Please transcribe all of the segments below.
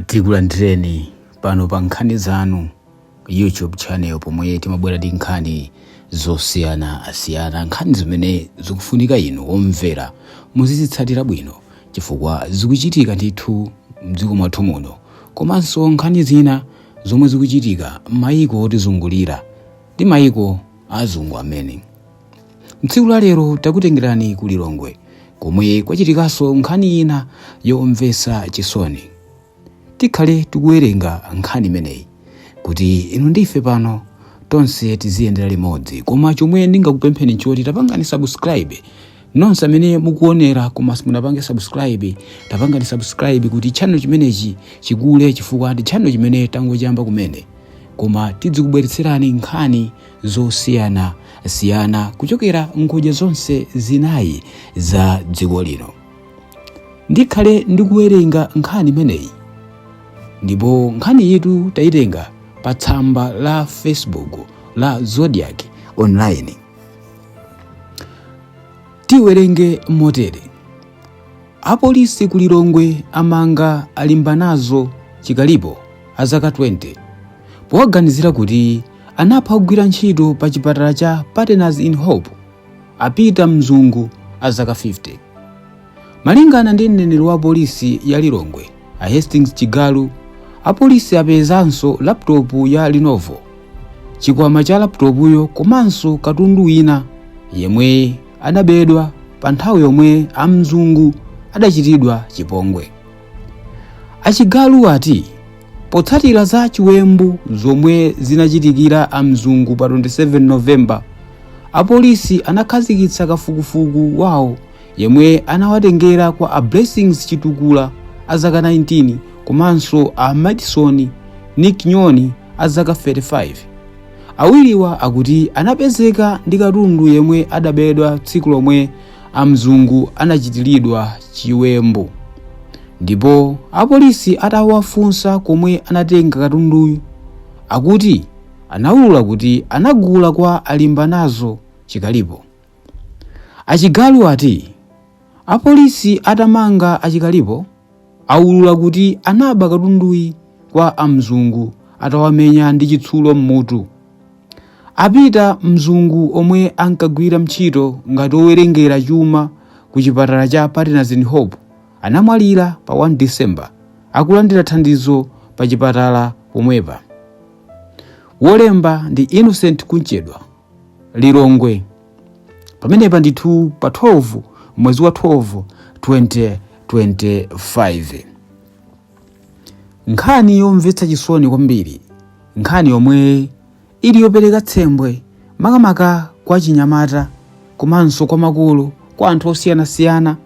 tikulandireni pano pa nkhani zanu youtube channel pomwe timabwera ndi nkhani zosiyanasiyana nkhani zimene zikufunika inu omvera muzizitsatira bwino chifukwa zikuchitika ndithu mdziko mwathu muno komanso nkhani zina zomwe zikuchitika m'mayiko otizungulira ndi mayiko azungu amene Mtsiku la lero takutengerani ku Lilongwe komwe kwachitikanso nkhani ina yomvetsa chisoni. Tikhale tikuwerenga nkhani imeneyi kuti inu ndife pano tonse tiziyendera limodzi. Koma chomwe ndingakupempheni n'choti tapangani subscribe nonse amene mukuonera koma simunapange subscribe tapangani subscribe kuti channel chimenechi chikule chifukwa ndi channel chimene tangochiyamba kumene koma tizikubweretserani nkhani zosiyana siyana kuchokera ngodya zonse zinayi za dziko lino ndikhale ndikuwerenga nkhani imeneyi ndipo nkhaniyitu tayitenga pa tsamba la facebook la zodiak online tiwerenge motere Apolisi ku Lilongwe amanga a Limbanazo Chikalipo a zaka 20 powaganizira kuti anapha ogwira ntchito pa chipatala cha Partners in Hope a Peter Mzungu a zaka 50. Malingana ndi mneneri wa polisi ya Lilongwe a Hastings Chigalu, apolisi apezanso laputopu ya Lenovo chikwama cha laputopuyo komanso katundu wina yemwe adabedwa pa nthawi yomwe a mzungu adachitidwa chipongwe a chigalu ati potsatira za chiwembu zomwe zinachitikira a mzungu pa 27 novemba apolisi anakhazikitsa kafukufuku wawo yemwe anawatengera kwa a blessings chitukula a zaka 19 komanso a madison nick nyoni a zaka 35 awiriwa akuti anapezeka ndi katundu yemwe adabedwa tsiku lomwe a mzungu anachitiridwa chiwembu ndipo apolisi atawafunsa komwe anatenga katunduyu akuti anawulula kuti anagula kwa a limbanazo chikalipo a chigalu ati apolisi atamanga a chikalipo aulula kuti anaba katunduyu kwa a mzungu atawamenya ndi chitsulo m'mutu a peter mzungu omwe ankagwira ntchito ngati owerengera chuma ku chipatala cha partners in hope anamwalira pa 1 december akulandira thandizo pa chipatala pomwepa wolemba ndi innocent kumchedwa lilongwe pamenepa ndithu pa 12 mwezi wa 12 2025 nkhani yomvetsa chisoni kwambiri nkhani yomwe ili yopereka tsembwe makamaka kwa chinyamata komanso kwa makolo kwa anthu osiyanasiyana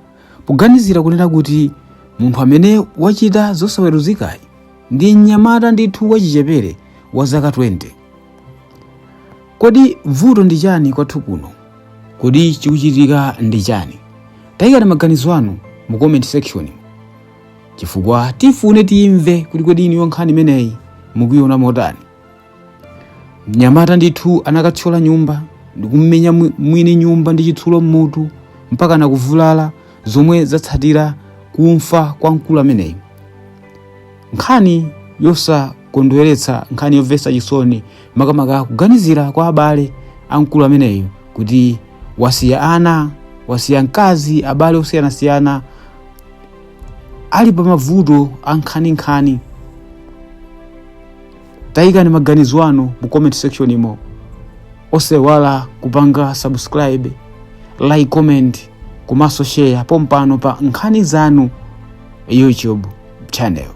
poganizira kunena kuti munthu amene wachita zosaweruzikayi ndi mnyamata ndithu wachichepere wa zaka 20 Kodi vuto ndi chani kwathu kuno? Kodi chikuchitika ndi chani? Tayikani maganizo anu mu comment section chifukwa tifune timve kuti kodi inuyo nkhani imeneyi mukuiona motani. Mnyamata ndithu anakathyola nyumba ndikummenya mwini nyumba ndi chitsulo mmutu mpaka nakuvulala zomwe zatsatira kumfa kwa mkulu ameneyi. nkhani yosakondweretsa nkhani yomvetsa chisoni makamaka kuganizira kwa abale a mkulu ameneyu kuti wasiya ana wasiya mkazi abale osiyanasiyana ali pa mavuto ankhaninkhani tayikani maganizo anu mu comment section imo osaiwala kupanga subscribe like comment komanso share pompano pa nkhani zanu youtube channel.